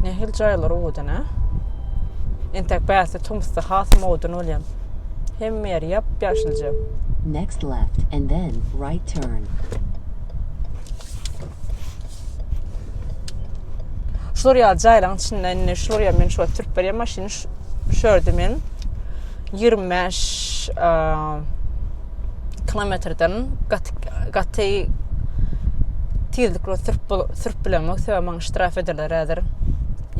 Nähili jaýlar owadan ha? Entek bäsi tomusda has owadan bolýar. Hemme ýer ýap-ýaşylja. Next left and then right turn. Şular ýaly jaýlaryň içinde indi şular ýa men şular sürüp berýän maşyny şu ýerde men ýigrimi bäş kilometrden gaty gaty tizlikli sürüp sürüp bilemok sebäbi maňa ştraf ederler häzir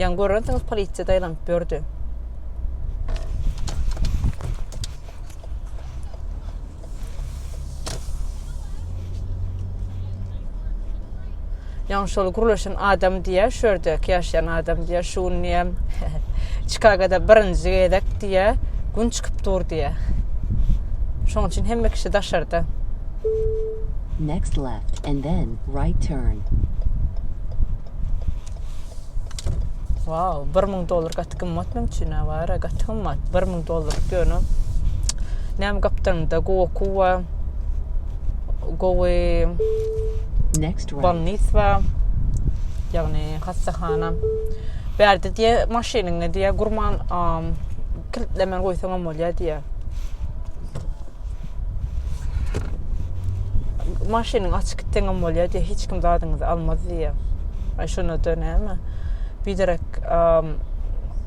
ýaňy görersiňiz polisiýa daýlanyp ýördi Ýaňy şol gürleşen adam diýýär, şu ýerdäki ýaşaýan adam diýýär, şu gün diýýär, Çikagoda birinji gezek diýýär, gün çykyp dur diýýär. Şonuň üçin hemme kişi daşarda. Next left and then right turn. Wow, bir müň dollar gaty gymmat men üçin awara gaty gymmat bir müň dollar ýöne näme gapdalynda goku wa gowy bolnis wa ýagny hassahana bärde diýe maşynyňy diýe gurman kilitlemen goýsaňam bolýar diýe maşynyň açyk gitseňem bolýar diýýär hiç kim zadyňyzy almaz diýýär aý şonada näme biderek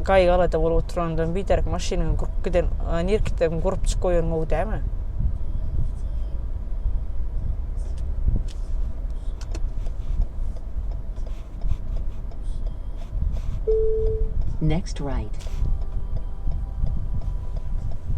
gaýgy alada bolup oturandan biderek maşynyňy gurup giden nirä gitseň gurup çykyp goýan gowy dälmi Next right.